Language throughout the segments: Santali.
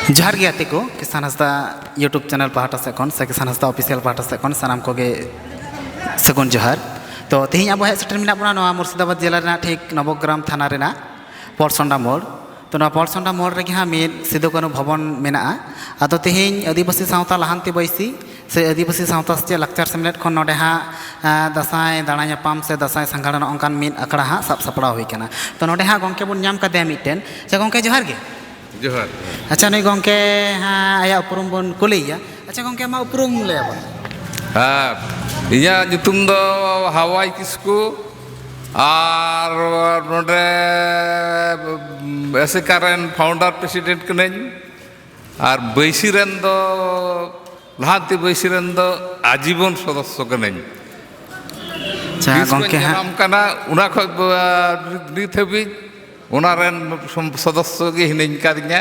ᱡᱚᱦᱟᱨ ᱜᱮ ᱜᱟᱛᱮ ᱠᱚ ᱠᱤᱥᱟᱱ ᱦᱟᱸᱥᱫᱟ ᱤᱭᱩᱴᱩᱵᱽ ᱪᱮᱱᱮᱞ ᱯᱟᱦᱴᱟ ᱥᱮᱫ ᱠᱷᱚᱱ ᱥᱮ ᱠᱤᱥᱟᱱ ᱦᱟᱸᱥᱫᱟ ᱚᱯᱷᱤᱥᱤᱭᱟᱞ ᱯᱟᱦᱴᱟ ᱥᱮᱫ ᱠᱷᱚᱱ ᱥᱟᱱᱟᱢ ᱠᱚᱜᱮ ᱥᱟᱹᱜᱩᱱ ᱡᱚᱦᱟᱨ ᱛᱚ ᱛᱮᱦᱮᱧ ᱟᱵᱚ ᱦᱮᱡ ᱥᱮᱴᱮᱨ ᱢᱮᱱᱟᱜ ᱵᱚᱱᱟ ᱱᱚᱣᱟ ᱢᱩᱨᱥᱤᱫᱟᱵᱟᱫᱽ ᱡᱮᱞᱟ ᱨᱮᱱᱟᱜ ᱴᱷᱤᱠ ᱱᱚᱵᱚᱜᱨᱟᱢ ᱛᱷᱟᱱᱟ ᱨᱮᱱᱟᱜ ᱯᱚᱨᱥᱚᱱᱰᱟ ᱢᱳᱲ ᱛᱚ ᱱᱚᱣᱟ ᱯᱚᱨᱥᱚᱱᱰᱟ ᱢᱳᱲ ᱨᱮᱜᱮ ᱦᱟᱸᱜ ᱢᱤᱫ ᱥᱤᱫᱩ ᱠᱟᱹᱱᱩ ᱵᱷᱚᱵᱚᱱ ᱢᱮᱱᱟᱜᱼᱟ ᱟᱫᱚ ᱛᱮᱦᱮᱧ ᱟᱹᱫᱤᱵᱟᱹᱥᱤ ᱥᱟᱶᱛᱟ ᱞᱟᱦᱟᱱᱛᱤ ᱵᱟᱹᱭᱥᱤ ᱥᱮ ᱟᱹᱫᱤᱵᱟᱹᱥᱤ ᱥᱟᱶᱛᱟ ᱥᱮᱪᱮᱫ ᱞᱟᱠᱪᱟᱨ ᱥᱮᱢᱞᱮᱫ ᱠᱷᱚᱱ ᱱᱚᱰᱮ ᱦᱟᱸᱜ ᱫᱟᱸᱥᱟᱭ ᱫᱟᱬᱟ ᱧᱟᱯᱟᱢ ᱥᱮ ᱫᱟᱸᱥᱟᱭ ᱥᱟᱸᱜᱷᱟᱲ ᱱᱚᱜᱼᱚ ᱱᱚᱝᱠᱟᱱ ᱢᱤᱫ ᱟᱠᱷᱲᱟ ᱦᱟᱸᱜ ᱥᱟᱵ ᱥᱟᱯᱲᱟᱣ ᱦᱩᱭ ᱠᱟᱱᱟ ᱛᱚ ᱱᱚᱰᱮ ᱦᱟᱸᱜ ᱜᱚᱢᱠᱮ ᱵᱚᱱ ᱧᱟᱢ ᱠᱟᱫᱮᱭᱟ ᱢᱤᱫᱴᱮᱱ ᱥᱮ ᱜᱚᱢᱠᱮ ᱡᱚᱦᱟᱨ ᱜᱮ ᱡᱚᱦᱟᱨ ᱟᱪᱪᱷᱟ ᱱᱩᱭ ᱜᱚᱢᱠᱮ ᱦᱟᱸᱜ ᱟᱭᱟᱜ ᱩᱯᱨᱩᱢ ᱵᱚᱱ ᱠᱩᱞᱤᱭᱮᱭᱟ ᱟᱪᱪᱷᱟ ᱜᱚᱢᱠᱮ ᱟᱢᱟᱜ ᱩᱯᱨᱩᱢ ᱞᱟᱹᱭ ᱟᱵᱚᱱ ᱦᱮᱸ ᱤᱧᱟᱹᱜ ᱧᱩᱛᱩᱢ ᱫᱚ ᱦᱟᱣᱟᱭ ᱠᱤᱥᱠᱩ ᱟᱨ ᱱᱚᱰᱮ ᱮᱥᱮᱠᱟ ᱨᱮᱱ ᱯᱷᱟᱣᱩᱱᱰᱟᱨ ᱯᱨᱮᱥᱤᱰᱮᱱᱴ ᱠᱟᱹᱱᱟᱹᱧ ᱟᱨ ᱵᱟᱹᱭᱥᱤ ᱨᱮᱱ ᱫᱚ ᱞᱟᱦᱟᱱᱛᱤ ᱵᱟᱹᱭᱥᱤ ᱨᱮᱱ ᱫᱚ ᱟᱡᱤᱵᱚᱱ ᱥᱚᱫᱚᱥᱥᱚ ᱠᱟᱹᱱᱟᱹᱧ ᱟᱪᱪᱷᱟ ᱛᱤᱥ ᱠᱷᱚᱱ ᱜᱚᱢᱠᱮ ᱦᱟᱸᱜ ᱡᱟᱱᱟᱢ ᱠᱟᱱᱟ ᱚᱱᱟ ᱠᱷᱚᱡ ᱱᱤᱛ ᱦᱟᱹᱵᱤᱡ ᱚᱱᱟ ᱨᱮᱱ ᱥᱚᱫᱚᱥᱥᱚ ᱜᱮ ᱦᱤᱱᱟᱹᱧ ᱠᱟᱫᱤᱧᱟ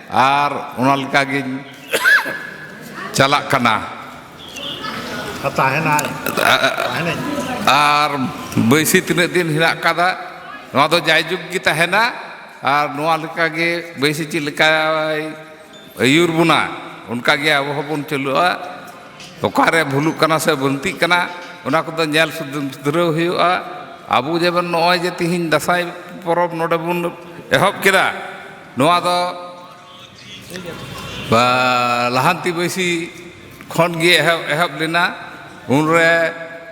ᱟᱨ ᱚᱱᱟ ᱞᱮᱠᱟ ᱜᱤᱧ ᱪᱟᱞᱟᱜ ᱠᱟᱱᱟ ᱛᱟᱦᱮᱱᱟ ᱟᱨ ᱵᱟᱹᱭᱥᱤ ᱛᱤᱱᱟᱹᱜ ᱫᱤᱱ ᱦᱮᱱᱟᱜ ᱠᱟᱫᱟ ᱱᱚᱣᱟ ᱫᱚ ᱡᱟᱭᱡᱩᱜᱽ ᱜᱮ ᱛᱟᱦᱮᱱᱟ ᱟᱨ ᱱᱚᱣᱟ ᱞᱮᱠᱟ ᱜᱮ ᱵᱟᱹᱭᱥᱤ ᱪᱮᱫ ᱞᱮᱠᱟᱭ ᱟᱹᱭᱩᱨ ᱵᱚᱱᱟ ᱚᱱᱠᱟ ᱜᱮ ᱟᱵᱚ ᱦᱚᱸᱵᱚᱱ ᱪᱟᱹᱞᱩᱜᱼᱟ ᱚᱠᱟᱨᱮ ᱵᱷᱩᱞᱩᱜ ᱠᱟᱱᱟ ᱥᱮ ᱵᱟᱹᱞᱛᱤᱜ ᱠᱟᱱᱟ ᱚᱱᱟ ᱠᱚᱫᱚ ᱧᱮᱞ ᱥᱩᱫᱷᱨᱟᱹᱣ ᱦᱩᱭᱩᱜᱼᱟ ᱟᱵᱚ ᱡᱮᱢᱚᱱ ᱱᱚᱜᱼᱚᱭ ᱡᱮ ᱛᱤᱦᱤᱧ ᱫᱟᱸᱥᱟᱭ ᱯᱚᱨᱚᱵᱽ ᱱᱚᱰᱮ ᱵᱚᱱ ᱮᱦᱚᱵ ᱠᱮᱫᱟ ᱱᱚᱣᱟ ᱫᱚ ᱞᱟᱦᱟᱱᱛᱤ ᱵᱟᱹᱭᱥᱤ ᱠᱷᱚᱱ ᱜᱮ ᱮᱦᱚᱵ ᱮᱦᱚᱵ ᱞᱮᱱᱟ ᱩᱱ ᱨᱮ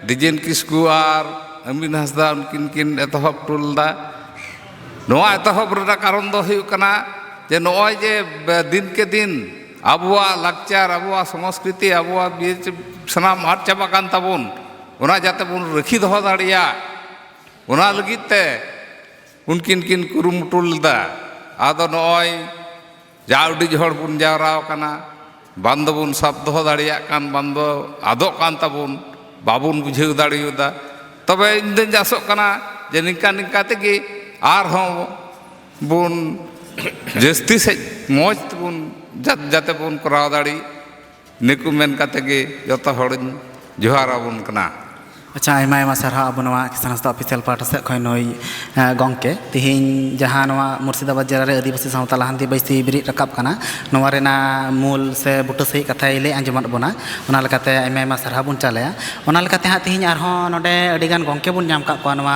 ᱰᱤᱡᱮᱱ ᱠᱤᱥᱠᱩ ᱟᱨ ᱟᱹᱢᱤᱱ ᱦᱟᱸᱥᱫᱟ ᱩᱱᱠᱤᱱ ᱠᱤᱱ ᱮᱛᱚᱦᱚᱵ ᱦᱚᱴᱚ ᱞᱮᱫᱟ ᱱᱚᱣᱟ ᱮᱛᱚᱦᱚᱵ ᱨᱮᱱᱟᱜ ᱠᱟᱨᱚᱱ ᱫᱚ ᱦᱩᱭᱩᱜ ᱠᱟᱱᱟ ᱡᱮ ᱱᱚᱜᱼᱚᱭ ᱡᱮ ᱫᱤᱱ ᱠᱮ ᱫᱤᱱ ᱟᱵᱚᱣᱟᱜ ᱞᱟᱠᱪᱟᱨ ᱟᱵᱚᱣᱟᱜ ᱥᱚᱝᱥᱠᱨᱤᱛᱤ ᱟᱵᱚᱣᱟᱜ ᱥᱟᱱᱟᱢ ᱟᱫ ᱪᱟᱵᱟᱜ ᱠᱟᱱ ᱛᱟᱵᱚᱱ ᱚᱱᱟ ᱡᱟᱛᱮ ᱵᱚᱱ ᱨᱟᱹᱠᱷᱤ ᱫᱚᱦᱚ ᱫᱟᱲᱮᱭᱟᱜ ᱚᱱᱟ ᱞᱟᱹᱜᱤᱫ ᱛᱮ ᱩᱱᱠᱤᱱ ᱠᱤᱱ ᱠᱩᱨᱩᱢᱩᱴᱩ ᱞᱮᱫᱟ ᱟᱫᱚ ᱱᱚᱜᱼᱚᱭ ᱡᱟ ᱩᱰᱤᱡ ᱦᱚᱲ ᱵᱚᱱ ᱡᱟᱣᱨᱟ ᱟᱠᱟᱱᱟ ᱵᱟᱝ ᱫᱚᱵᱚᱱ ᱥᱟᱵ ᱫᱚᱦᱚ ᱫᱟᱲᱮᱭᱟᱜ ᱠᱟᱱ ᱵᱟᱝ ᱫᱚ ᱟᱫᱚᱜ ᱠᱟᱱ ᱛᱟᱵᱚᱱ ᱵᱟᱵᱚᱱ ᱵᱩᱡᱷᱟᱹᱣ ᱫᱟᱲᱮᱭᱟᱫᱟ ᱛᱚᱵᱮ ᱤᱧᱫᱩᱧ ᱟᱥᱚᱜ ᱠᱟᱱᱟ ᱡᱮ ᱱᱤᱝᱠᱟ ᱱᱤᱝᱠᱟ ᱛᱮᱜᱮ ᱟᱨᱦᱚᱸ ᱵᱚᱱ ᱡᱟᱹᱥᱛᱤ ᱥᱮᱡ ᱢᱚᱡᱽ ᱛᱮᱵᱚᱱ ᱡᱟᱛ ᱡᱟᱛᱮ ᱵᱚᱱ ᱠᱚᱨᱟᱣ ᱫᱟᱲᱮᱜ ᱤᱱᱟᱹ ᱠᱚ ᱢᱮᱱ ᱠᱟᱛᱮ ᱜᱮ ᱡᱚᱛᱚ ᱦᱚᱲᱤᱧ ᱡᱚᱦᱟᱨ ᱟᱵᱚᱱ ᱠᱟᱱᱟ ᱟᱪᱪᱷᱟ ᱟᱭᱢᱟ ᱟᱭᱢᱟ ᱥᱟᱨᱦᱟᱣ ᱟᱵᱚ ᱱᱚᱣᱟ ᱠᱤᱥᱟᱱ ᱦᱟᱸᱥᱫᱟ ᱚᱯᱷᱤᱥᱤᱭᱟᱞ ᱯᱟᱦᱴᱟ ᱥᱮᱫ ᱠᱷᱚᱱ ᱱᱩᱭ ᱜᱚᱢᱠᱮ ᱛᱤᱦᱤᱧ ᱡᱟᱦᱟᱸ ᱱᱚᱣᱟ ᱢᱩᱨᱥᱤᱫᱟᱵᱟᱫᱽ ᱡᱮᱞᱟ ᱨᱮ ᱟᱹᱫᱤᱵᱟᱹᱥᱤ ᱥᱟᱶᱛᱟ ᱞᱟᱦᱟᱱᱛᱤ ᱵᱟᱹᱭᱥᱤ ᱵᱮᱨᱮᱫ ᱨᱟᱠᱟᱵ ᱠᱟᱱᱟ ᱱᱚᱣᱟ ᱨᱮᱱᱟᱜ ᱢᱩᱞ ᱥᱮ ᱵᱩᱴᱟᱹ ᱥᱟᱺᱦᱤᱡ ᱠᱟᱛᱷᱟᱭ ᱞᱟᱹᱭ ᱟᱸᱡᱚᱢᱟᱫ ᱵᱚᱱᱟ ᱚᱱᱟ ᱞᱮᱠᱟᱛᱮ ᱟᱭᱢᱟ ᱟᱭᱢᱟ ᱥᱟᱨᱦᱟᱣ ᱵᱚᱱ ᱪᱟᱞ ᱟᱭᱟ ᱚᱱᱟ ᱞᱮᱠᱟᱛᱮ ᱦᱟᱸᱜ ᱛᱤᱦᱤᱧ ᱟᱨᱦᱚᱸ ᱱᱚᱰᱮ ᱟᱹᱰᱤ ᱜᱟᱱ ᱜᱚᱢᱠᱮ ᱵᱚᱱ ᱧᱟᱢ ᱟᱠᱟᱫ ᱠᱚᱣᱟ ᱱᱚᱣᱟ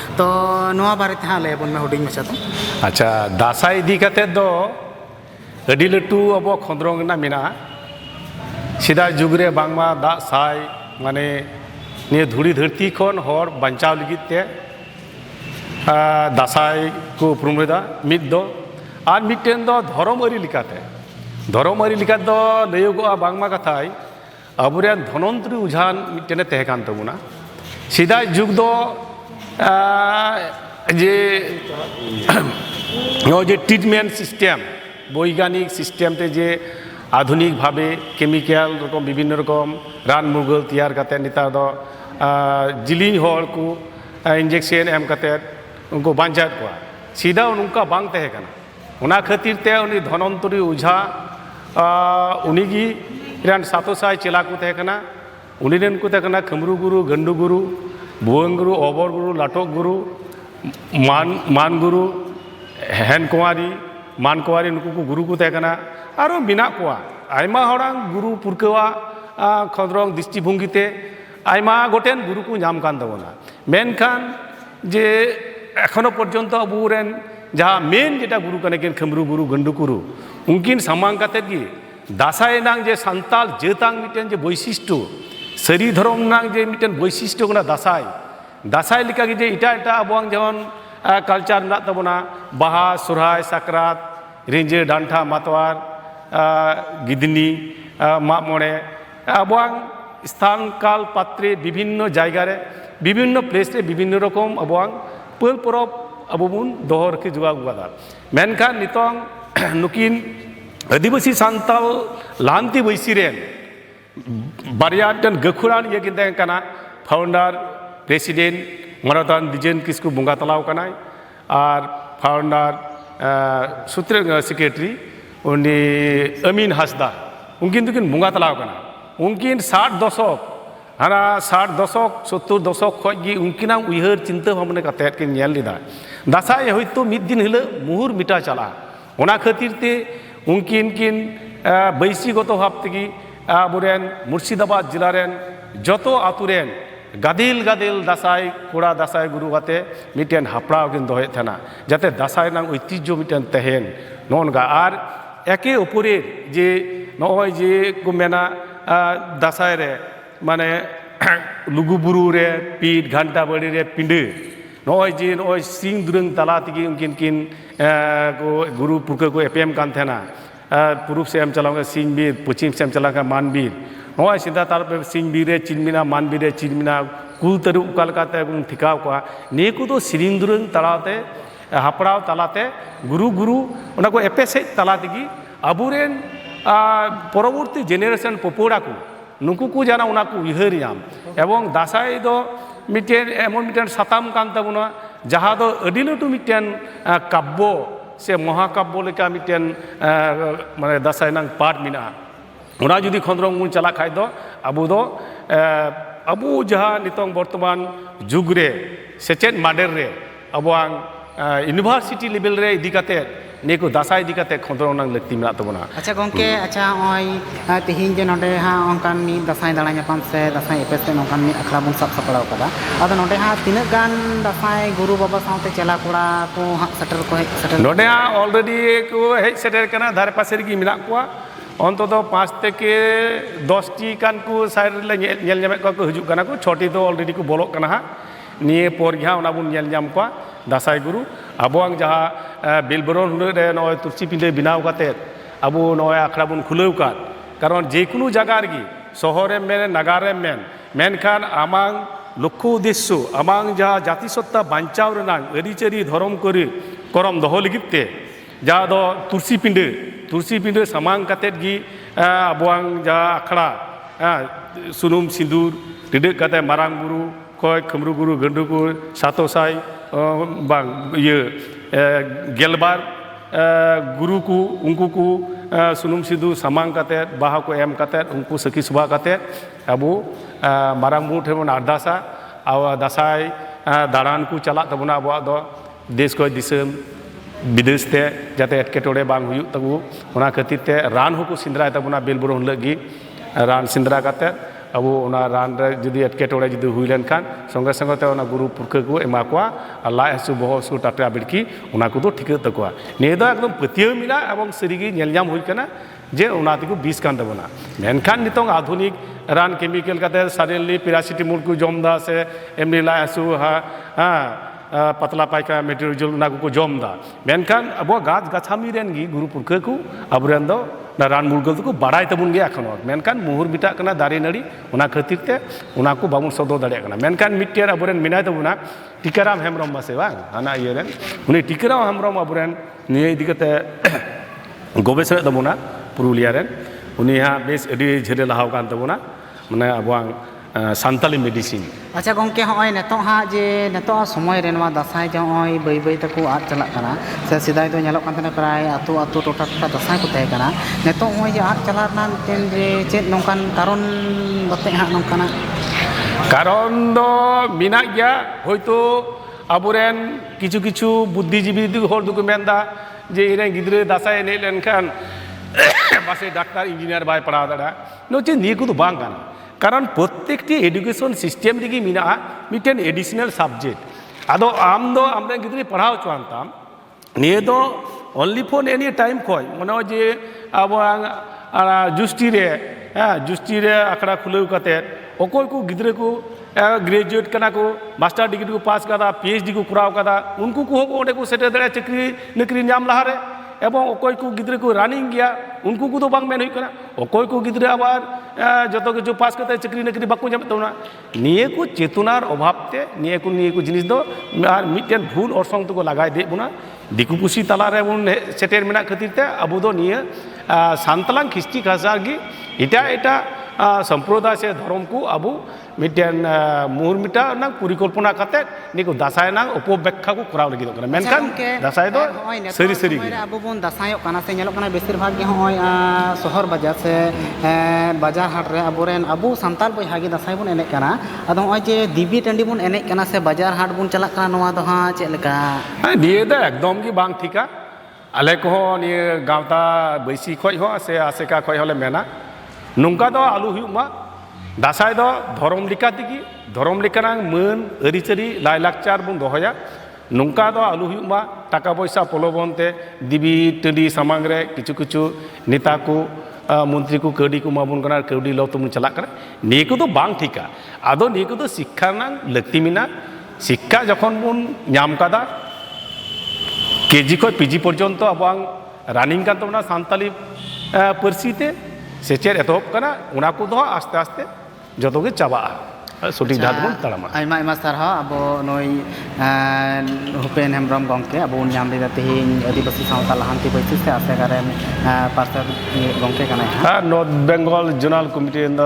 ᱛᱚ ᱱᱚᱣᱟ ᱵᱟᱨᱮ ᱛᱮ ᱦᱟᱸᱜ ᱞᱟᱹᱭ ᱟᱵᱚᱱ ᱢᱮ ᱦᱩᱰᱤᱧ ᱢᱟᱪᱷᱟ ᱛᱮ ᱟᱪᱪᱷᱟ ᱫᱟᱸᱥᱟᱭ ᱤᱫᱤ ᱠᱟᱛᱮ ᱫᱚ ᱟᱹᱰᱤ ᱞᱟᱹᱴᱩ ᱟᱵᱚ ᱠᱷᱚᱸᱫᱽᱨᱚᱱ ᱨᱮᱱᱟᱜ ᱢᱮᱱᱟᱜᱼᱟ ᱥᱮᱫᱟᱭ ᱡᱩᱜᱽ ᱨᱮ ᱵᱟᱝᱢᱟ ᱫᱟᱜ ᱥᱟᱭ ᱢᱟᱱᱮ ᱱᱤᱭᱟᱹ ᱫᱷᱩᱲᱤ ᱫᱷᱟᱹᱨᱛᱤ ᱠᱷᱚᱱ ᱦᱚᱲ ᱵᱟᱧᱪᱟᱣ ᱞᱟᱹᱜᱤᱫ ᱛᱮ ᱫᱟᱸᱥᱟᱭ ᱠᱚ ᱩᱯᱨᱩᱢ ᱞᱮᱫᱟ ᱢᱤᱫ ᱫᱚ ᱟᱨ ᱢᱤᱫᱴᱮᱱ ᱫᱚ ᱫᱷᱚᱨᱚᱢ ᱟᱹᱨᱤ ᱞᱮᱠᱟᱛᱮ ᱫᱷᱚᱨᱚᱢ ᱟᱹᱨᱤ ᱞᱮᱠᱟᱛᱮ ᱫᱚ ᱞᱟᱹᱭᱟᱹᱜᱚᱜᱼᱟ ᱵᱟᱝᱢᱟ ᱠᱟᱛᱷᱟᱡ ᱟᱵᱚᱨᱮᱱ ᱫᱷᱚᱱᱚᱱᱛᱨᱤ ᱚᱡᱷᱟ ᱢᱤᱫᱴᱮᱱᱮ ᱛᱟᱦᱮᱸ ᱠᱟᱱ ᱛᱟᱵᱚᱱᱟ ᱥᱮᱫᱟᱭ ᱡᱩᱜᱽ ᱫᱚ ᱡᱮ ᱱᱚᱜᱼᱚᱭ ᱡᱮ ᱴᱨᱤᱴᱢᱮᱱᱴ ᱥᱤᱥᱴᱮᱢ ᱵᱳᱭᱜᱟᱱᱤᱠ ᱥᱤᱥᱴᱮᱢ ᱛᱮ ᱡᱮ ᱟᱫᱷᱩᱱᱤᱠ ᱵᱷᱟᱵᱮ ᱠᱮᱢᱤᱠᱮᱞ ᱨᱚᱠᱚᱢ ᱵᱤᱵᱷᱤᱱᱱᱚ ᱨᱚᱠᱚᱢ ᱨᱟᱱ ᱢᱩᱨᱜᱟᱹᱞ ᱛᱮᱭᱟᱨ ᱠᱟᱛᱮᱫ ᱱᱮᱛᱟᱨ ᱫᱚ ᱡᱤᱞᱤᱧ ᱦᱚᱲ ᱠᱚ ᱤᱧᱡᱮᱠᱥᱮᱱ ᱮᱢ ᱠᱟᱛᱮᱫ ᱩᱱᱠᱩ ᱵᱟᱧᱪᱟᱣᱮᱫ ᱠᱚᱣᱟ ᱥᱮᱫᱟᱭ ᱱᱚᱝᱠᱟ ᱵᱟᱝ ᱛᱟᱦᱮᱸ ᱠᱟᱱᱟ ᱚᱱᱟ ᱠᱷᱟᱹᱛᱤᱨ ᱛᱮ ᱩᱱᱤ ᱫᱷᱚᱱᱚᱱᱛᱚᱨᱤ ᱚᱡᱷᱟ ᱩᱱᱤᱜᱮ ᱨᱮᱱ ᱥᱟᱛᱚ ᱥᱟᱭ ᱪᱮᱞᱟ ᱠᱚ ᱛᱟᱦᱮᱸ ᱠᱟᱱᱟ ᱩᱱᱤ ᱨᱮᱱ ᱠᱚ ᱛᱟᱦᱮᱸ ᱠᱟᱱᱟ ᱠᱷᱟᱹᱢᱨᱩ ᱜᱩᱨᱩ ᱜᱟᱹᱱᱰᱩ ᱜᱩᱨᱩ ᱵᱷᱩᱣᱟᱹᱝ ᱜᱩᱨᱩ ᱚᱵᱚᱨ ᱜᱩᱨᱩ ᱞᱟᱴᱚᱠ ᱜᱩᱨᱩ ᱢᱟᱱ ᱢᱟᱱ ᱜᱩᱨᱩ ᱦᱮᱱ ᱠᱩᱶᱟᱨᱤ ᱢᱟᱱ ᱠᱩᱶᱟᱨᱤ ᱱᱩᱠᱩ ᱠᱚ ᱜᱩᱨᱩ ᱠᱚ ᱛᱟᱦᱮᱸ ᱠᱟᱱᱟ ᱟᱨᱚ ᱢᱮᱱᱟᱜ ᱠᱚᱣᱟ ᱟᱭᱢᱟ ᱦᱚᱲᱟᱝ ᱜᱩᱨᱩ ᱯᱩᱨᱠᱷᱟᱹᱣᱟᱜ ᱠᱷᱚᱸᱫᱽᱨᱚᱱ ᱫᱨᱤᱥᱴᱤ ᱵᱷᱚᱝᱜᱤ ᱛᱮ ᱟᱭᱢᱟ ᱜᱚᱴᱮᱱ ᱜᱩᱨᱩ ᱠᱚ ᱧᱟᱢ ᱠᱟᱱ ᱛᱟᱵᱚᱱᱟ ᱢᱮᱱᱠᱷᱟᱱ ᱡᱮ ᱮᱠᱷᱚᱱᱚ ᱯᱚᱨᱡᱚᱱᱛᱚ ᱟᱵᱚ ᱨᱮᱱ ᱡᱟᱦᱟᱸ ᱢᱮᱱ ᱡᱮᱴᱟ ᱜᱩᱨᱩ ᱠᱟᱱᱟ ᱠᱤᱱ ᱠᱷᱟᱹᱢᱨᱩ ᱜᱩᱨᱩ ᱜᱟᱹᱱᱰᱩ ᱜᱩᱨᱩ ᱩᱱᱠᱤᱱ ᱥᱟᱢᱟᱝ ᱠᱟᱛᱮ ᱜᱮ ᱫᱟᱸᱥᱟᱭ ᱨᱮᱱᱟᱝ ᱡᱮ ᱥᱟᱱᱛᱟᱞ ᱡᱟᱹᱛᱟᱝ ᱢᱤᱫᱴᱮᱱ ᱡᱮ ᱵᱳᱭᱥᱤᱥᱴᱚ ᱥᱟᱹᱨᱤ ᱫᱷᱚᱨᱚᱢ ᱨᱮᱱᱟᱝ ᱡᱮ ᱢᱤᱫᱴᱮᱱ ᱵᱳᱭᱥᱤᱥᱴᱚ ᱠᱟᱱᱟ ᱫᱟᱸᱥᱟᱭ ᱫᱟᱸᱥᱟᱭ ᱞᱮᱠᱟ ᱜᱮ ᱡᱮ ᱮᱴᱟᱜ ᱮᱴᱟᱜ ᱟᱵᱚᱣᱟᱝ ᱡᱮᱢᱚᱱ ᱠᱟᱞᱪᱟᱨ ᱢᱮᱱᱟᱜ ᱛᱟᱵᱚᱱᱟ ᱵᱟᱦᱟ ᱥᱚᱨᱦᱟᱭ ᱥᱟᱠᱨᱟᱛ ᱨᱤᱸᱡᱷᱟᱹ ᱰᱟᱱᱴᱟ ᱢᱟᱛᱣᱟᱨ ᱜᱤᱫᱷᱱᱤ ᱢᱟᱜ ᱢᱚᱬᱮ ᱟᱵᱚᱣᱟᱜ ᱥᱛᱷᱟᱱ ᱠᱟᱞ ᱯᱟᱛᱨᱮ ᱵᱤᱵᱷᱤᱱᱱᱚ ᱡᱟᱭᱜᱟ ᱨᱮ ᱵᱤᱵᱷᱤᱱᱱᱚ ᱯᱞᱮᱥ ᱨᱮ ᱵᱤᱵᱷᱤᱱᱱᱚ ᱨᱚᱠᱚᱢ ᱟᱵᱚᱣᱟᱜ ᱯᱟᱹᱞ ᱯᱚᱨᱚᱵᱽ ᱟᱵᱚ ᱵᱚᱱ ᱫᱚᱦᱚ ᱨᱮᱠᱷᱮ ᱡᱚᱜᱟᱣ ᱟᱹᱜᱩ ᱟᱠᱟᱫᱟ ᱢᱮᱱᱠᱷᱟᱱ ᱱᱤᱛᱚᱝ ᱱᱩᱠᱤᱱ ᱟᱹᱫᱤᱵᱟᱹᱥᱤ ᱥᱟᱱᱛᱟᱞ ᱞᱟᱦᱟᱱᱛᱤ ᱵᱟᱹᱭᱥᱤ ᱨᱮᱱ ᱵᱟᱨᱭᱟ ᱢᱤᱫᱴᱮᱱ ᱜᱟᱹᱠᱷᱩᱲᱟᱱ ᱤᱭᱟᱹ ᱠᱤᱱ ᱛᱟᱦᱮᱸ ᱠᱟᱱᱟ ᱯᱷᱟᱣᱩᱱᱰᱟᱨ ᱯᱨᱮᱥᱤᱰᱮᱱᱴ ᱢᱟᱱᱚᱛᱟᱱ ᱫᱤᱡᱮᱱ ᱠᱤᱥᱠᱩ ᱵᱚᱸᱜᱟ ᱛᱟᱞᱟᱣ ᱠᱟᱱᱟᱭ ᱟᱨ ᱯᱷᱟᱣᱩᱱᱰᱟᱨ ᱥᱩᱛᱨᱮᱛ ᱥᱮᱠᱨᱮᱴᱟᱨᱤ ᱩᱱᱤ ᱟᱹᱢᱤᱱ ᱦᱟᱸᱥᱫᱟ ᱩᱱᱠᱤᱱ ᱫᱚᱠᱤᱱ ᱵᱚᱸᱜᱟ ᱛᱟᱞᱟᱣ ᱠᱟᱱᱟ ᱩᱱᱠᱤᱱ ᱥᱟᱴ ᱫᱚᱥᱚᱠ ᱦᱟᱱᱟ ᱥᱟᱴ ᱫᱚᱥᱚᱠ ᱥᱳᱛᱛᱳᱨ ᱫᱚᱥᱚᱠ ᱠᱷᱚᱱ ᱜᱮ ᱩᱱᱠᱤᱱᱟᱜ ᱩᱭᱦᱟᱹᱨ ᱪᱤᱱᱛᱟᱹ ᱵᱷᱟᱵᱽᱱᱟ ᱠᱟᱛᱮᱫ ᱠᱤᱱ ᱧᱮᱞ ᱞᱮᱫᱟ ᱫᱟᱸᱥᱟᱭ ᱦᱳᱭᱛᱳ ᱢᱤᱫ ᱫᱤᱱ ᱦᱤᱞᱳᱜ ᱢᱩᱦᱩᱨ ᱢᱮᱴᱟᱣ ᱪᱟᱞᱟᱜᱼᱟ ᱚᱱᱟ ᱠᱷᱟᱹᱛᱤᱨ ᱛᱮ ᱩᱱᱠᱤᱱ ᱠᱤᱱ ᱵᱟᱹᱭᱥᱤᱜᱚᱛᱚ ᱵᱷᱟᱵᱽ ᱛᱮᱜᱮ ᱟᱵᱚᱨᱮᱱ ᱢᱩᱨᱥᱤᱫᱟᱵᱟᱫᱽ ᱡᱮᱞᱟ ᱨᱮᱱ ᱡᱚᱛᱚ ᱟᱛᱳ ᱨᱮᱱ ᱜᱟᱫᱮᱞ ᱜᱟᱫᱮᱞ ᱫᱟᱸᱥᱟᱭ ᱠᱚᱲᱟ ᱫᱟᱸᱥᱟᱭ ᱜᱩᱨᱩ ᱠᱟᱛᱮ ᱢᱤᱫᱴᱮᱱ ᱦᱟᱯᱲᱟᱣ ᱠᱤᱱ ᱫᱚᱦᱚᱭᱮᱫ ᱛᱟᱦᱮᱱᱟ ᱡᱟᱛᱮ ᱫᱟᱸᱥᱟᱭ ᱨᱮᱱᱟᱜ ᱳᱭᱛᱤᱡᱽᱡᱚ ᱢᱤᱫᱴᱮᱱ ᱛᱟᱦᱮᱱ ᱱᱚᱜᱼᱚ ᱱᱚᱝᱠᱟ ᱟᱨ ᱮᱠᱮ ᱚᱯᱚᱨᱮ ᱡᱮ ᱱᱚᱜᱼᱚᱭ ᱡᱮ ᱠᱚ ᱢᱮᱱᱟ ᱫᱟᱸᱥᱟᱭ ᱨᱮ ᱢᱟᱱᱮ ᱞᱩᱜᱩᱼᱵᱩᱨᱩ ᱨᱮ ᱯᱤᱴ ᱜᱷᱟᱱᱴᱟ ᱵᱟᱲᱮ ᱨᱮ ᱯᱤᱰᱟᱹ ᱱᱚᱜᱼᱚᱭ ᱡᱮ ᱱᱚᱜᱼᱚᱭ ᱥᱤᱝ ᱫᱩᱨᱟᱹᱝ ᱛᱟᱞᱟ ᱛᱮᱜᱮ ᱩᱱᱠᱤᱱ ᱠᱤᱱ ᱜᱩᱨᱩ ᱯᱩᱨᱠᱟᱹ ᱠᱚ ᱮᱯᱮᱢ ᱠᱟᱱ ᱛᱟᱦᱮᱱᱟ ᱯᱩᱨᱩᱵ ᱥᱮᱫ ᱮᱢ ᱪᱟᱞᱟᱣ ᱞᱮᱱᱠᱷᱟᱱ ᱥᱤᱝ ᱵᱤᱨ ᱯᱚᱪᱷᱤᱢ ᱥᱮᱫ ᱮᱢ ᱪᱟᱞᱟᱣ ᱞᱮᱱᱠᱷᱟᱱ ᱢᱟᱱ ᱵᱤᱨ ᱱᱚᱜᱼᱚᱭ ᱥᱮᱫᱟᱭ ᱛᱟᱨᱯᱚᱨᱮ ᱥᱤᱝ ᱵᱤᱨ ᱨᱮ ᱪᱮᱫ ᱢᱮᱱᱟᱜᱼᱟ ᱢᱟᱱ ᱵᱤᱨ ᱨᱮ ᱪᱮᱫ ᱢᱮᱱᱟᱜᱼᱟ ᱠᱩᱞ ᱛᱟᱹᱨᱩᱵ ᱚᱠᱟ ᱞᱮᱠᱟᱛᱮ ᱵᱚᱱ ᱴᱷᱮᱠᱟᱣ ᱠᱚᱣᱟ ᱱᱤᱭᱟᱹ ᱠᱚᱫᱚ ᱥᱤᱝ ᱫᱩᱨᱟᱹᱝ ᱛᱟᱞᱟᱛᱮ ᱦᱟᱯᱲᱟᱣ ᱛᱟᱞᱟᱛᱮ ᱜᱩᱨᱩ ᱜᱩᱨᱩ ᱚᱱᱟ ᱠᱚ ᱮᱯᱮᱥᱮᱡ ᱛᱟᱞᱟ ᱛᱮᱜᱮ ᱟᱵᱚ ᱨᱮᱱ ᱯᱚᱨᱚᱵᱚᱨᱛᱤ ᱡᱮᱱᱟᱨᱮᱥᱚᱱ ᱯᱚᱯᱚᱝᱲᱟ ᱠᱚ ᱱᱩᱠᱩ ᱠᱚ ᱡᱟᱱᱟ ᱚᱱᱟ ᱠᱚ ᱩᱭᱦᱟᱹᱨ ᱧᱟᱢ ᱮᱵᱚᱝ ᱫᱟᱸᱥᱟᱭ ᱫᱚ ᱢᱤᱫᱴᱮᱱ ᱮᱢᱚᱱ ᱢᱤᱫᱴᱮᱱ ᱥᱟᱛᱟᱢ ᱠᱟᱱ ᱛᱟᱵᱚᱱᱟ ᱡᱟᱦᱟᱸ ᱫᱚ ᱟᱹᱰᱤ ᱞᱟᱹᱴᱩ ᱢᱤᱫᱴᱮᱱ ᱠᱟᱵᱽᱵᱚ ᱥᱮ ᱢᱚᱦᱟ ᱠᱟᱵᱽᱵᱚ ᱞᱮᱠᱟ ᱢᱤᱫᱴᱮᱱ ᱢᱟᱱᱮ ᱫᱟᱸᱥᱟᱭ ᱨᱮᱱᱟᱝ ᱯᱟᱴ ᱢᱮᱱᱟᱜᱼᱟ ᱚᱱᱟ ᱡᱩᱫᱤ ᱠᱷᱚᱸᱫᱽᱨᱚᱱ ᱵᱚᱱ ᱪᱟᱞᱟᱜ ᱠᱷᱟᱱ ᱫᱚ ᱟᱵᱚ ᱫᱚ ᱟᱵᱚ ᱡᱟᱦᱟᱸ ᱱᱤᱛᱚᱝ ᱵᱚᱨᱛᱚᱢᱟᱱ ᱡᱩᱜᱽ ᱨᱮ ᱥᱮᱪᱮᱫ ᱢᱟᱰᱮᱨ ᱨᱮ ᱟᱵᱚᱣᱟᱝ ᱤᱭᱩᱱᱤᱵᱷᱟᱨᱥᱤᱴᱤ ᱞᱮᱵᱮᱞ ᱨᱮ ᱤᱫᱤ ᱠᱟᱛᱮ ᱱᱤᱭᱟᱹ ᱠᱚ ᱫᱟᱥᱟᱭ ᱤᱫᱤ ᱠᱟᱛᱮ ᱠᱷᱚᱸᱫᱽᱨᱚᱱ ᱨᱮᱱᱟᱜ ᱞᱟᱹᱠᱛᱤ ᱢᱮᱱᱟᱜ ᱛᱟᱵᱚᱱᱟ ᱟᱪᱪᱷᱟ ᱜᱚᱝᱠᱮ ᱟᱪᱪᱷᱟ ᱱᱚᱜᱼᱚᱭ ᱛᱮᱦᱮᱧ ᱡᱮ ᱱᱚᱰᱮ ᱦᱟᱸᱜ ᱚᱱᱠᱟᱱ ᱢᱤᱫ ᱫᱟᱥᱟᱭ ᱫᱟᱬᱟ ᱧᱟᱯᱟᱢ ᱥᱮ ᱫᱟᱥᱟᱭ ᱮᱯᱮᱨ ᱥᱮ ᱱᱚᱝᱠᱟᱱ ᱢᱤᱫ ᱟᱠᱷᱲᱟ ᱵᱚᱱ ᱥᱟᱵ ᱥᱟᱯᱲᱟᱣ ᱠᱟᱫᱟ ᱟᱫᱚ ᱱᱚᱰᱮ ᱦᱟᱸᱜ ᱛᱤᱱᱟᱹᱜ ᱜᱟᱱ ᱫᱟᱥᱟᱭ ᱜᱩᱨᱩ ᱵᱟᱵᱟ ᱥᱟᱶᱛᱮ ᱪᱮᱞᱟ ᱠᱚᱲᱟ ᱠᱚ ᱦᱟᱸᱜ ᱥᱮᱴᱮᱨ ᱠᱚ ᱦᱮᱡ ᱥᱮᱴᱮᱨ ᱱᱚᱰᱮ ᱦᱟᱸᱜ ᱚᱞᱨᱮᱰᱤ ᱠᱚ ᱦᱮᱡ ᱥᱮᱴᱮᱨ ᱠᱟᱱᱟ ᱫᱷᱟᱨᱮ ᱯᱟᱥᱮ ᱨᱮᱜᱮ ᱢᱮᱱᱟᱜ ᱠᱚᱣᱟ ᱚᱱᱛᱚᱛᱚ ᱯᱟᱸᱪ ᱛᱷᱮᱠᱮ ᱫᱚᱥᱴᱤ ᱜᱟᱱ ᱠᱚ ᱥᱟᱭᱤᱰ ᱨᱮᱞᱮ ᱧᱮᱞ ᱧᱟᱢᱮᱫ ᱠᱚᱣᱟ ᱠᱚ ᱦᱤᱡᱩᱜ ᱠᱟᱱᱟ ᱠᱚ ᱪᱷᱚᱴᱤ ᱫᱚ ᱚᱞᱨᱮᱰᱤ ᱠᱚ ᱵᱚᱞᱚᱜ ᱠᱟᱱᱟ ᱦᱟᱸᱜ ᱱᱤᱭᱟᱹ ᱯᱚᱨ ᱜᱮ ᱦᱟᱸᱜ ᱚᱱᱟ ᱵᱚᱱ ᱧᱮᱞ ᱧᱟᱢ ᱠᱚᱣᱟ ᱫᱟᱸᱥᱟᱭ ᱜᱩᱨᱩ ᱟᱵᱚᱣᱟᱝ ᱡᱟᱦᱟᱸ ᱵᱤᱞᱵᱚᱨᱚᱱ ᱦᱩᱞᱟᱹᱜ ᱨᱮ ᱱᱚᱜᱼᱚᱭ ᱛᱩᱞᱥᱤ ᱯᱤᱸᱰᱟᱹ ᱵᱮᱱᱟᱣ ᱠᱟᱛᱮᱫ ᱟᱵᱚ ᱱᱚᱜᱼᱚᱭ ᱟᱠᱷᱲᱟ ᱵᱚᱱ ᱠᱷᱩᱞᱟᱹᱣ ᱟᱠᱟᱫ ᱠᱟᱨᱚᱱ ᱡᱮᱠᱳᱱᱳ ᱡᱟᱭᱜᱟ ᱨᱮᱜᱮ ᱥᱚᱦᱚᱨᱮᱢ ᱢᱮᱱ ᱱᱟᱜᱟᱨᱮᱢ ᱢᱮᱱ ᱢᱮᱱᱠᱷᱟᱱ ᱟᱢᱟᱝ ᱞᱚᱠᱠᱷᱚ ᱩᱫᱮᱥᱥᱚ ᱟᱢᱟᱝ ᱡᱟᱦᱟᱸ ᱡᱟᱹᱛᱤ ᱥᱚᱛᱛᱟ ᱵᱟᱧᱪᱟᱣ ᱨᱮᱱᱟᱝ ᱟᱹᱨᱤᱪᱟᱹᱞᱤ ᱫᱷᱚᱨᱚᱢ ᱠᱚᱨᱮ ᱠᱚᱨᱚᱢ ᱫᱚᱦᱚ ᱞᱟᱹᱜᱤᱫ ᱛᱮ ᱡᱟᱦᱟᱸ ᱫᱚ ᱛᱩᱞᱥᱤ ᱯᱤᱸᱰᱟᱹ ᱛᱩᱞᱥᱤ ᱯᱤᱸᱰᱟᱹ ᱥᱟᱢᱟᱝ ᱠᱟᱛᱮᱫ ᱜᱮ ᱟᱵᱚᱣᱟᱝ ᱡᱟᱦᱟᱸ ᱟᱠᱷᱲᱟ ᱥᱩᱱᱩᱢ ᱥᱤᱸᱫᱩᱨ ᱴᱤᱰᱟᱹᱜ ᱠᱟᱛᱮᱫ ᱢᱟᱨᱟᱝ ᱵᱩᱨᱩ ᱠᱚᱭ ᱠᱷᱟᱹᱢᱨᱩ ᱜᱩᱨᱩ ᱜᱟᱹᱰᱩ ᱠᱚ ᱥᱟᱛᱚ ᱥᱟᱭ ᱵᱟᱝ ᱤᱭᱟᱹ ᱜᱮᱞᱵᱟᱨ ᱜᱩᱨᱩ ᱠᱚ ᱩᱱᱠᱩ ᱠᱚ ᱥᱩᱱᱩᱢ ᱥᱤᱸᱫᱩᱨ ᱥᱟᱢᱟᱝ ᱠᱟᱛᱮᱫ ᱵᱟᱦᱟ ᱠᱚ ᱮᱢ ᱠᱟᱛᱮᱫ ᱩᱱᱠᱩ ᱥᱟᱹᱠᱷᱤ ᱥᱚᱵᱷᱟ ᱠᱟᱛᱮᱫ ᱟᱵᱚ ᱢᱟᱨᱟᱝ ᱵᱩᱨᱩ ᱴᱷᱮᱱ ᱵᱚᱱ ᱟᱨᱫᱟᱥᱟ ᱟᱵᱚᱣᱟᱜ ᱫᱟᱸᱥᱟᱭ ᱫᱟᱬᱟᱱ ᱠᱚ ᱪᱟᱞᱟᱜ ᱛᱟᱵᱚᱱᱟ ᱟᱵᱚᱣᱟᱜ ᱫᱚ ᱫᱮᱥ ᱠᱷᱚᱡ ᱫᱤᱥᱚᱢ ᱵᱤᱫᱮᱥ ᱛᱮ ᱡᱟᱛᱮ ᱮᱴᱠᱮᱴᱚᱬᱮ ᱵᱟᱝ ᱦᱩᱭᱩᱜ ᱛᱟᱠᱚ ᱚᱱᱟ ᱠᱷᱟᱹᱛᱤᱨ ᱛᱮ ᱨᱟᱱ ᱦᱚᱸᱠᱚ ᱥᱮᱸᱫᱽᱨᱟᱭ ᱛᱟᱵᱚᱱᱟ ᱵᱮᱞ ᱵᱚᱨᱚᱱ ᱦᱤᱞᱳᱜ ᱜᱮ ᱨᱟᱱ ᱥᱮᱸᱫᱽᱨᱟ ᱠᱟᱛᱮᱫ ᱟᱵᱚ ᱚᱱᱟ ᱨᱟᱱ ᱨᱮ ᱡᱩᱫᱤ ᱮᱴᱠᱮᱴᱚᱬᱮ ᱡᱩᱫᱤ ᱦᱩᱭ ᱞᱮᱱᱠᱷᱟᱱ ᱥᱚᱸᱜᱮ ᱥᱚᱸᱜᱮ ᱛᱮ ᱚᱱᱟ ᱜᱩᱨᱩ ᱯᱩᱨᱠᱷᱟᱹ ᱠᱚ ᱮᱢᱟ ᱠᱚᱣᱟ ᱟᱨ ᱞᱟᱡ ᱦᱟᱹᱥᱩ ᱵᱚᱦᱚᱜ ᱦᱟᱹᱥᱩ ᱴᱟᱴᱠᱟ ᱵᱤᱲᱠᱤ ᱚᱱᱟ ᱠᱚᱫᱚ ᱴᱷᱤᱠᱟᱹᱜ ᱛᱟᱠᱚᱣᱟ ᱱᱤᱭᱟᱹ ᱫᱚ ᱮᱠᱫᱚᱢ ᱯᱟᱹᱛᱭᱟᱹᱣ ᱢᱮᱱᱟᱜᱼᱟ ᱮᱵᱚᱝ ᱥᱟᱹᱨᱤᱜᱮ ᱧᱮᱞ ᱧᱟᱢ ᱦᱩᱭ ᱠᱟᱱᱟ ᱡᱮ ᱚᱱᱟ ᱛᱮᱠᱚ ᱵᱤᱥ ᱠᱟᱱ ᱛᱟᱵᱚᱱᱟ ᱢᱮᱱᱠᱷᱟᱱ ᱱᱤᱛᱚᱝ ᱟᱫᱷᱩᱱᱤᱠ ᱨᱟᱱ ᱠᱮᱢᱤᱠᱮᱞ ᱠᱟᱛᱮᱫ ᱥᱟᱰᱮᱱᱞᱤ ᱯᱮᱨᱟᱥᱤᱴᱤᱢᱚᱞ ᱠᱚ ᱡᱚᱢ ᱮᱫᱟ ᱥᱮ ᱮᱢᱱᱤ ᱞᱟᱡ ᱦᱟᱹᱥᱩ ᱦᱮᱸ ᱯᱟᱛᱞᱟ ᱯᱟᱭᱠᱷᱟᱱᱟ ᱢᱮᱴᱮᱨᱤᱭᱟᱞ ᱡᱚᱢ ᱚᱱᱟ ᱠᱚᱠᱚ ᱡᱚᱢ ᱮᱫᱟ ᱢᱮᱱᱠᱷᱟᱱ ᱟᱵᱚᱣᱟᱜ ᱜᱟᱪᱷ ᱜᱟᱪᱷᱟᱞᱤ ᱨᱮᱱ ᱜᱮ ᱜᱩᱨᱩ ᱯᱩᱨᱠᱷᱟᱹ ᱠᱚ ᱟᱵᱚ ᱨᱮᱱ ᱫᱚ ᱚᱱᱟ ᱨᱟᱱ ᱢᱩᱨᱜᱟᱹᱱ ᱫᱚᱠᱚ ᱵᱟᱲᱟᱭ ᱛᱟᱵᱚᱱ ᱜᱮᱭᱟ ᱮᱠᱷᱚᱱᱳ ᱢᱮᱱᱠᱷᱟᱱ ᱢᱩᱦᱩᱨ ᱢᱮᱴᱟᱜ ᱠᱟᱱᱟ ᱫᱟᱨᱮ ᱱᱟᱹᱲᱤ ᱚᱱᱟ ᱠᱷᱟᱹᱛᱤᱨ ᱛᱮ ᱚᱱᱟ ᱠᱚ ᱵᱟᱵᱚᱱ ᱥᱚᱫᱚᱨ ᱫᱟᱲᱮᱭᱟᱜ ᱠᱟᱱᱟ ᱢᱮᱱᱠᱷᱟᱱ ᱢᱤᱫᱴᱮᱱ ᱟᱵᱚ ᱨᱮᱱ ᱢᱮᱱᱟᱭ ᱛᱟᱵᱚᱱᱟ ᱴᱤᱠᱟᱨᱟᱢ ᱦᱮᱢᱵᱨᱚᱢ ᱢᱟᱥᱮ ᱵᱟᱝ ᱦᱟᱱᱟ ᱤᱭᱟᱹ ᱨᱮᱱ ᱩᱱᱤ ᱴᱤᱠᱟᱨᱟᱢ ᱦᱮᱢᱵᱨᱚᱢ ᱟᱵᱚ ᱨᱮᱱ ᱱᱤᱭᱟᱹ ᱤᱫᱤ ᱠᱟᱛᱮ ᱜᱚᱵᱮᱥᱚᱱᱟ ᱮᱫ ᱛᱟᱵᱚᱱᱟ ᱯᱩᱨᱩᱞᱤᱭᱟ ᱨᱮᱱ ᱩᱱᱤ ᱦᱟᱸᱜ ᱵᱮᱥ ᱟᱹᱰᱤ ᱡᱷᱟᱹᱞᱮ ᱞᱟᱦᱟ ᱟᱠᱟᱱ ᱛᱟᱵᱚᱱᱟ ᱢᱟᱱᱮ ᱟᱵᱚᱣᱟᱜ ᱥᱟᱱᱛᱟᱞᱤ ᱢᱮᱰᱤᱥᱤᱱ ᱟᱪᱪᱷᱟ ᱜᱚᱝᱠᱮ ᱦᱚᱸᱜᱼᱚᱭ ᱱᱤᱛᱚᱜ ᱦᱟᱸᱜ ᱡᱮ ᱱᱤᱛᱚᱜ ᱥᱚᱢᱚᱭ ᱨᱮ ᱱᱚᱣᱟ ᱫᱟᱸᱥᱟᱭ ᱡᱮ ᱦᱚᱸᱜᱼᱚᱭ ᱵᱟᱹᱭ ᱵᱟᱹᱭ ᱛᱮᱠᱚ ᱟᱫ ᱪᱟᱞᱟᱜ ᱠᱟᱱᱟ ᱥᱮ ᱥᱮᱫᱟᱭ ᱫᱚ ᱧᱮᱞᱚᱜ ᱠᱟᱱ ᱛᱟᱦᱮᱱᱟ ᱯᱨᱟᱭ ᱟᱹᱛᱩ ᱟᱹᱛᱩ ᱴᱚᱴᱷᱟ ᱴᱚᱴᱷᱟ ᱫᱟᱸᱥᱟᱭ ᱠᱚ ᱛᱟᱦᱮᱸ ᱠᱟᱱᱟ ᱱᱤᱛᱚᱜ ᱦᱚᱸᱜᱼᱚᱭ ᱡᱮ ᱟᱫ ᱪᱟᱞᱟᱜ ᱨᱮᱱᱟᱜ ᱢᱤᱫᱴᱮᱱ ᱡᱮ ᱪᱮᱫ ᱱᱚᱝᱠᱟᱱ ᱠᱟᱨᱚᱱ ᱠᱟᱛᱮᱫ ᱦᱟᱸᱜ ᱱᱚᱝᱠᱟᱱᱟᱜ ᱠᱟᱨᱚᱱ ᱫᱚ ᱢᱮᱱᱟᱜ ᱜᱮᱭᱟ ᱦᱳᱭᱛᱳ ᱟᱵᱚᱨᱮᱱ ᱠᱤᱪᱷᱩ ᱠᱤᱪᱷᱩ ᱵᱩᱫᱽᱫᱷᱤ ᱡᱤᱵᱤ ᱦᱚᱲ ᱫᱚᱠᱚ ᱢᱮᱱᱫᱟ ᱡᱮ ᱤᱧᱨᱮᱱ ᱜᱤᱫᱽᱨᱟᱹ ᱫᱟᱸᱥᱟᱭ ᱮᱱᱮᱡ ᱞᱮᱱᱠᱷᱟᱱ ᱯᱟᱥᱮᱡ ᱰᱟᱠᱛᱟᱨ ᱤᱧᱡᱤᱱᱤᱭᱟᱨ ᱵᱟᱭ ᱯᱟᱲᱦᱟᱣ ᱫᱟᱲᱮᱭᱟᱜᱼᱟ ᱱᱚᱜᱼᱚᱭ ᱪᱮᱫ ᱱᱤᱭᱟᱹ ᱠᱚᱫᱚ ᱵᱟᱝ ᱠᱟᱱᱟ ᱠᱟᱨᱚᱱ ᱯᱨᱚᱛᱮᱠᱴᱤ ᱮᱰᱩᱠᱮᱥᱚᱱ ᱥᱤᱥᱴᱮᱢ ᱨᱮᱜᱮ ᱢᱮᱱᱟᱜᱼᱟ ᱢᱤᱫᱴᱮᱱ ᱮᱰᱤᱥᱚᱱᱟᱞ ᱥᱟᱵᱡᱮᱠᱴ ᱟᱫᱚ ᱟᱢ ᱫᱚ ᱟᱢᱨᱮᱱ ᱜᱤᱫᱽᱨᱟᱹ ᱯᱟᱲᱦᱟᱣ ᱦᱚᱪᱚᱣᱟᱱ ᱛᱟᱢ ᱱᱤᱭᱟᱹ ᱫᱚ ᱚᱱᱞᱤ ᱯᱷᱚᱨ ᱮᱱᱤ ᱴᱟᱭᱤᱢ ᱠᱷᱚᱡ ᱢᱚᱱᱮ ᱦᱚᱸ ᱡᱮ ᱟᱵᱚᱣᱟᱝ ᱡᱩᱥᱴᱤ ᱨᱮ ᱦᱮᱸ ᱡᱩᱥᱴᱤ ᱨᱮ ᱟᱠᱷᱲᱟ ᱠᱷᱩᱞᱟᱹᱣ ᱠᱟᱛᱮ ᱚᱠᱚᱭ ᱠᱚ ᱜᱤᱫᱽᱨᱟᱹ ᱠᱚ ᱜᱨᱮᱡᱩᱭᱮᱴ ᱠᱟᱱᱟ ᱠᱚ ᱢᱟᱥᱴᱟᱨ ᱰᱤᱜᱽᱨᱤ ᱠᱚ ᱯᱟᱥ ᱠᱟᱫᱟ ᱯᱤ ᱮᱭᱤᱪ ᱰᱤ ᱠᱚ ᱠᱚᱨᱟᱣ ᱠᱟᱫᱟ ᱩᱱᱠᱩ ᱠᱚᱦᱚᱸ ᱠᱚ ᱚᱸᱰᱮ ᱠᱚ ᱥᱮᱴᱮᱨ ᱫᱟᱲᱮᱭᱟᱜᱼᱟ ᱪᱟᱹᱠᱨᱤ ᱱᱚᱠᱨᱤ ᱧᱟᱢ ᱞᱟᱦᱟᱨᱮ ᱮᱵᱚᱝ ᱚᱠᱚᱭ ᱠᱚ ᱜᱤᱫᱽᱨᱟᱹ ᱠᱚ ᱨᱟᱱᱤᱝ ᱜᱮᱭᱟ ᱩᱱᱠᱩ ᱠᱚᱫᱚ ᱵᱟᱝ ᱢᱮᱱ ᱦᱩᱭᱩᱜ ᱠᱟᱱᱟ ᱚᱠᱚᱭ ᱠᱚ ᱜᱤᱫᱽᱨᱟᱹ ᱟᱵᱟᱨ ᱡᱚᱛᱚ ᱠᱤᱪᱷᱩ ᱯᱟᱥ ᱠᱟᱛᱮ ᱪᱟᱹᱠᱨᱤ ᱱᱚᱠᱨᱤ ᱵᱟᱠᱚ ᱧᱟᱢᱮᱫ ᱛᱟᱵᱚᱱᱟ ᱱᱤᱭᱟᱹ ᱠᱚ ᱪᱮᱛᱚᱱᱟᱨ ᱚᱵᱷᱟᱵ ᱛᱮ ᱱᱤᱭᱟᱹ ᱠᱚ ᱱᱤᱭᱟᱹ ᱠᱚ ᱡᱤᱱᱤᱥ ᱫᱚ ᱟᱨ ᱢᱤᱫᱴᱮᱱ ᱵᱷᱩᱞ ᱚᱨᱥᱚᱝ ᱛᱮᱠᱚ ᱞᱟᱜᱟ ᱤᱫᱤᱭᱮᱫ ᱵᱚᱱᱟ ᱫᱤᱠᱩ ᱯᱩᱥᱤ ᱛᱟᱞᱟ ᱨᱮᱵᱚᱱ ᱥᱮᱴᱮᱨ ᱢᱮᱱᱟᱜ ᱠᱷᱟᱹᱛᱤᱨ ᱛᱮ ᱟᱵᱚ ᱫᱚ ᱱᱤᱭᱟᱹ ᱥᱟᱱᱛᱟᱲᱟᱜ ᱠᱷᱤᱥᱴᱤ ᱠᱟᱞᱪᱟᱨ ᱜᱮ ᱮᱴᱟᱜ ᱮᱴᱟᱜ ᱥᱚᱢᱯᱨᱚᱫᱟᱭ ᱥᱮ ᱫᱷᱚᱨᱚᱢ ᱠᱚ ᱟᱵᱚ ᱢᱤᱫᱴᱮᱱ ᱢᱩᱨ ᱢᱤᱴᱟ ᱱᱟᱝ ᱯᱚᱨᱤᱠᱚᱞᱯᱚᱱᱟ ᱠᱟᱛᱮ ᱱᱤᱠᱚ ᱫᱟᱥᱟᱭ ᱱᱟᱝ ᱩᱯᱚᱵᱮᱠᱷᱟ ᱠᱚ ᱠᱚᱨᱟᱣ ᱞᱟᱹᱜᱤᱫᱚᱜ ᱠᱟᱱᱟ ᱢᱮᱱᱠᱷᱟᱱ ᱫᱟᱥᱟᱭ ᱫᱚ ᱥᱟᱹᱨᱤ ᱥᱟᱹᱨᱤ ᱜᱮ ᱟᱵᱚ ᱵᱚᱱ ᱫᱟᱥᱟᱭᱚᱜ ᱠᱟᱱᱟ ᱥᱮ ᱧᱮᱞᱚᱜ ᱠᱟᱱᱟ ᱵᱮᱥᱤᱨ ᱵᱷᱟᱜ ᱜᱮ ᱦᱚᱸᱜᱼᱚᱭ ᱥᱚᱦᱚᱨ ᱵᱟᱡᱟᱨ ᱥᱮ ᱵᱟᱡᱟᱨ ᱦᱟᱴ ᱨᱮ ᱟᱵᱚᱨᱮᱱ ᱟᱵᱚ ᱥᱟᱱᱛᱟᱲ ᱵᱚᱭᱦᱟ ᱜᱮ ᱫᱟᱥᱟᱭ ᱵᱚᱱ ᱮᱱᱮᱡ ᱠᱟᱱᱟ ᱟᱫᱚ ᱦᱚᱸᱜᱼᱚᱭ ᱡᱮ ᱫᱤᱵᱤ ᱴᱟᱺᱰᱤ ᱵᱚᱱ ᱮᱱᱮᱡ ᱠᱟᱱᱟ ᱥᱮ ᱵᱟᱡᱟᱨ ᱦᱟᱴ ᱵᱚᱱ ᱪᱟᱞᱟᱜ ᱠᱟᱱᱟ ᱱᱚᱣᱟ ᱫᱚ ᱦᱟᱸᱜ ᱪᱮᱫ ᱞᱮᱠᱟ ᱱᱤᱭᱟᱹ ᱫᱚ ᱮᱠᱫᱚᱢ ᱜᱮ ᱵᱟᱝ ᱴᱷᱤᱠᱟ ᱟᱞᱮ ᱠᱚᱦᱚᱸ ᱱᱤᱭᱟᱹ ᱜᱟᱶᱛᱟ ᱵᱟᱹᱭᱥᱤ ᱠᱷᱚᱡ ᱦᱚᱸ ᱥᱮ ᱟᱥᱮᱠᱟ ᱠᱷᱚᱡ ᱦᱚᱸᱞᱮ ᱢᱮᱱᱟ ᱱᱚᱝᱠᱟ ᱫᱚ ᱟᱞᱚ ᱦᱩᱭᱩᱜ ᱢᱟ ᱫᱟᱸᱥᱟᱭ ᱫᱚ ᱫᱷᱚᱨᱚᱢ ᱞᱮᱠᱟ ᱛᱮᱜᱮ ᱫᱷᱚᱨᱚᱢ ᱞᱮᱠᱟᱱᱟᱝ ᱢᱟᱹᱱ ᱟᱹᱨᱤᱪᱟᱹᱞᱤ ᱞᱟᱭᱼᱞᱟᱠᱪᱟᱨ ᱵᱚᱱ ᱫᱚᱦᱚᱭᱟ ᱱᱚᱝᱠᱟ ᱫᱚ ᱟᱞᱚ ᱦᱩᱭᱩᱜ ᱢᱟ ᱴᱟᱠᱟ ᱯᱚᱭᱥᱟ ᱯᱨᱚᱞᱳᱵᱷᱚᱱ ᱛᱮ ᱫᱮᱵᱤ ᱴᱟᱺᱰᱤ ᱥᱟᱢᱟᱝ ᱨᱮ ᱠᱤᱪᱷᱩ ᱠᱤᱪᱷᱩ ᱱᱮᱛᱟ ᱠᱚ ᱢᱚᱱᱛᱨᱤ ᱠᱚ ᱠᱟᱹᱣᱰᱤ ᱠᱚ ᱮᱢᱟ ᱵᱚᱱ ᱠᱟᱱᱟ ᱠᱟᱹᱣᱰᱤ ᱞᱚᱵᱽ ᱛᱮᱵᱚᱱ ᱪᱟᱞᱟᱜ ᱠᱟᱱᱟ ᱱᱤᱭᱟᱹ ᱠᱚᱫᱚ ᱵᱟᱝ ᱴᱷᱤᱠᱟ ᱟᱫᱚ ᱱᱤᱭᱟᱹ ᱠᱚᱫᱚ ᱥᱤᱠᱠᱷᱟ ᱨᱮᱱᱟᱝ ᱞᱟᱹᱠᱛᱤ ᱢᱮᱱᱟᱜᱼᱟ ᱥᱤᱠᱠᱷᱟ ᱡᱚᱠᱷᱚᱱ ᱵᱚᱱ ᱧᱟᱢ ᱠᱟᱫᱟ ᱠᱮᱡᱤ ᱠᱷᱚᱱ ᱯᱤᱡᱤ ᱯᱚᱨᱡᱚᱱᱛᱚ ᱟᱵᱚᱣᱟᱜ ᱨᱟᱱᱤᱝ ᱠᱟᱱ ᱛᱟᱵᱚᱱᱟ ᱥᱟᱱᱛᱟᱞᱤ ᱯᱟᱹᱨᱥᱤ ᱛᱮ ᱥᱮᱪᱮᱫ ᱮᱛᱚᱦᱚᱵ ᱠᱟᱱᱟ ᱚᱱᱟ ᱠᱚᱫᱚ ᱦᱟᱸᱜ ᱟᱥᱛᱮ ᱟᱥᱛᱮ ᱡᱚᱛᱚ ᱜᱮ ᱪᱟᱵᱟᱜᱼᱟ ᱥᱚᱴᱷᱤᱠ ᱰᱟᱦᱟᱨ ᱛᱮᱵᱚᱱ ᱛᱟᱲᱟᱢᱟ ᱟᱭᱢᱟ ᱟᱭᱢᱟ ᱥᱟᱨᱦᱟᱣ ᱟᱵᱚ ᱱᱩᱭ ᱦᱩᱯᱮᱱ ᱦᱮᱢᱵᱨᱚᱢ ᱜᱚᱢᱠᱮ ᱟᱵᱚ ᱵᱚᱱ ᱧᱟᱢ ᱞᱮᱫᱟ ᱛᱮᱦᱮᱧ ᱟᱹᱫᱤᱵᱟᱹᱥᱤ ᱥᱟᱶᱛᱟ ᱞᱟᱦᱟᱱᱛᱤ ᱵᱟᱹᱭᱥᱤ ᱥᱮ ᱟᱥᱮᱠᱟ ᱨᱮᱱ ᱯᱟᱨᱥᱟᱞ ᱜᱚᱢᱠᱮ ᱠᱟᱱᱟᱭ ᱦᱟᱸᱜ ᱱᱚᱨᱛᱷ ᱵᱮᱝᱜᱚᱞ ᱡᱳᱱᱟᱞ ᱠᱚᱢᱤᱴᱤ ᱨᱮᱱ ᱫᱚ